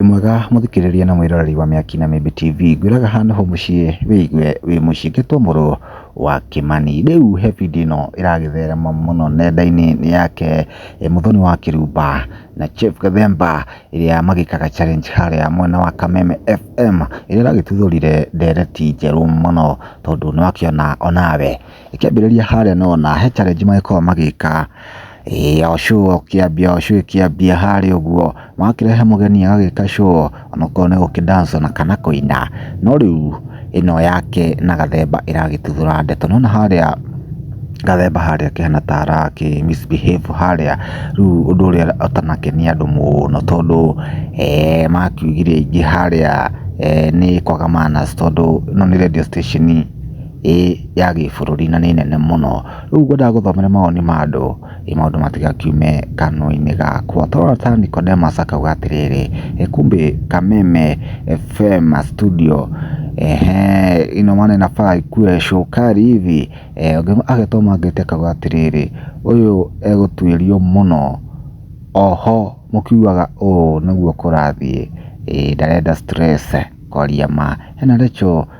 Wĩ mwega mũthikĩrĩria na mwĩroreri wa Mĩaki na Mĩmbi TV, ngwĩraga haha nĩho mũciĩ wĩigue wĩ mũciĩ ngetwo mũrũ wa Kĩmani. Rĩu he video ĩno ĩragĩtherema mũno nenda-inĩ nĩ yake Mũthoni wa Kĩrumba na Chief Gathemba ĩrĩa magĩkaga challenge harĩa mwena wa Kameme FM ĩrĩa ĩragĩtuthũrire ndereti njerũ mũno tondũ nĩwakĩona onawe ĩkĩambĩrĩria harĩa nĩ wona he challenge magĩkoragwo magĩka ya ũcũrũ ũkĩambia ũcũrũ ĩkĩambia harĩa ũguo, magakĩrehe mũgeni agagĩka show ona okorwo nĩ gũkĩ dance ona kana kũina, no rĩu ĩno yake na Gathemba ĩragĩtuthũra ndeto, nĩ wona harĩa Gathemba harĩa akĩhana ta arakĩ misbehave harĩa, rĩu ũndũ ũrĩa ũtanakenia andũ mũno tondũ makiugire aingĩ harĩa nĩ kwaga manners tondũ ĩno nĩ radio station. ĩ ya gĩbũrũri na nĩ nene mũno. Rĩu ngwendaga ngũthomere mawoni ma andũ ĩ maũndũ matigakiume kanua-inĩ gakwa. Tũrona ta Nicodemus akauga atĩrĩrĩ, ĩ kumbe Kameme FM studio eeh ina maana inafaa ikuwe shukari hivi? Agatũa mangĩti akauga atĩrĩrĩ, ũyũ egũtuĩrio mũno, oho mũkiugaga ũũ nĩguo kũrathiĩ, ĩ ndarenda stress kwaria ma. Hena Recho.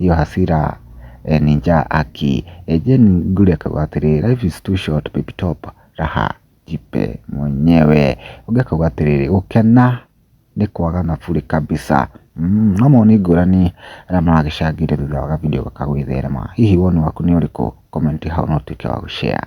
ĩyo hasira eh, ninja aki eh, Jane Nguli akauga atĩrĩ life is too short baby top raha jipe mwenyewe ũngĩ akauga atĩrĩrĩ gũkena nĩ kwaga na burĩ kabisa Mm, no moni ngũrani arĩa maragĩcangĩire thutha wa gavideo gaka gwĩtherema hihi woni waku nĩ ũrĩkũ komenti hau no ũtuĩke wa gũshare